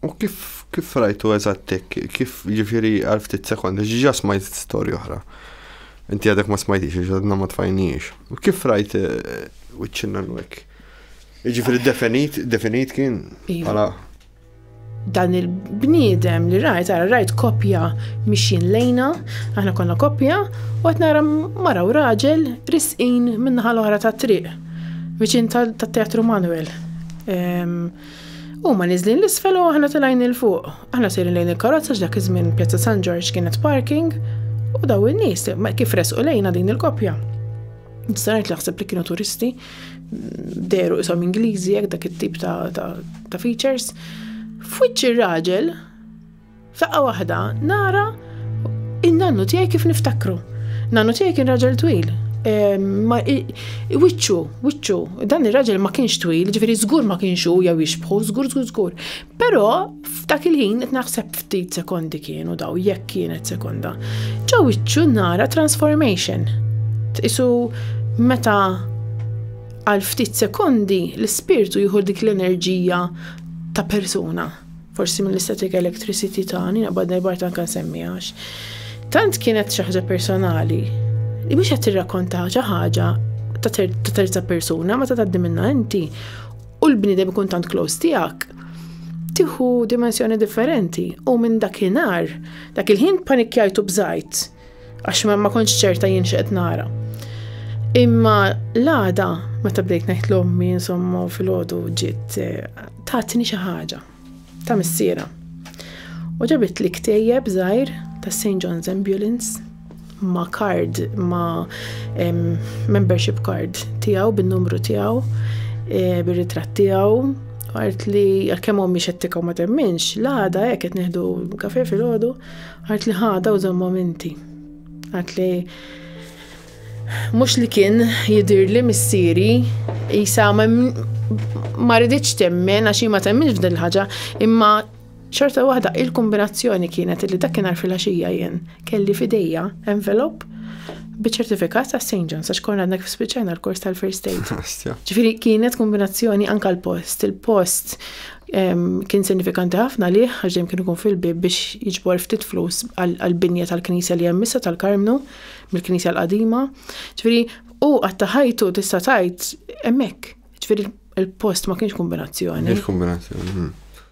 U kif, kif rajtu eżattek, kif ġifiri għal ftit sekondi, ġiġa smajt storja oħra. Inti għadek ma smajtix, ġadna ma tfajniex. U kif rajt wiċċinna eh, l-wek? Ġifiri definit, definit kien iva. għala. Dan il-bniedem li rajt, għara rajt kopja mixin lejna, aħna konna kopja, u għet nara mara u raġel risqin minnaħal oħra ta' triq, viċin ta' teatru Manuel. Ehm, Huma niżlin l-isfel u aħna telgħin il fuq. Aħna sejrin lejn il-karozza x'dak iż-żmien Pjazza San Ġorġ kienet parking u daw in-nies kif resqu lejna din il-koppja. Nistanajt li ħseb li kienu turisti, deru isom Ingliżi jekk dak it-tip ta' features. F'wiċċ ir-raġel F'daqqa waħda nara in-nannu tiegħi kif niftakru. Nannu tiegħi kien raġel twil. Wiċċu, wiċċu, dan ir-raġel ma kienx twil, ġifieri żgur ma kienx hu jew jixbħu, żgur żgur żgur. Però f'dak il-ħin qed naħseb ftit sekondi kienu daw jekk kienet sekonda. Ġo wiċċu nara transformation. Isu meta għal ftit sekondi l-ispirtu jieħu dik l-enerġija ta' persuna. Forsi mill-istatika electricity ta' Nina Badner Bart anke nsemmiha għax tant kienet xi ħaġa personali li mhux qed tirrakkonta xi ħaġa ta' terza persuna meta tgħaddi minnha inti u l-bniedem ikun tant close tiegħek tieħu dimensjoni differenti u minn dakinhar dak il-ħin panikjajtu bżajt Għax ma, ma kontx ċerta jien x'qed nara. Imma l-għada, meta bdejt ngħid l-ommi insomma fil-ħodu ġiet eh, tatni xi ħaġa ta' missiera. U ġabit li ktejjeb żgħir ta' St. John's Ambulance ma' card, ma' membership card tiegħu bin-numru tiegħu, eh, bir-ritratt tiegħu, għart li għal-kem ommi xettika ma temminx, l-għada jek qed neħdu kafe fil-ħodu, Għad li ħada u żommhom inti. Għad li mhux li kien jidir li missieri jisa ma rriditx temmen għax ma temminx f'din ħaġa imma ċerta waħda il-kombinazzjoni kienet li dakinhar fil-għaxija jien kelli fidejja envelop biċ-ċertifikat ta' St. John's għax konna għandna kif spiċċajna l-kors tal-first aid. Ġifieri kienet kombinazzjoni anka l-post, il-post Kien sinifikanti ħafna għalih għax dejjem kien ikun fil-bieb biex jiġbor ftit flus għall-binja tal-Knisja li hemm issa tal-Karmnu, mill-Knisja l-qadima. Ġifieri u għatta ħajtu tista' tgħid hemmhekk. Ġifieri il-post ma kienx kombinazzjoni. Kienx kombinazzjoni. Hmm.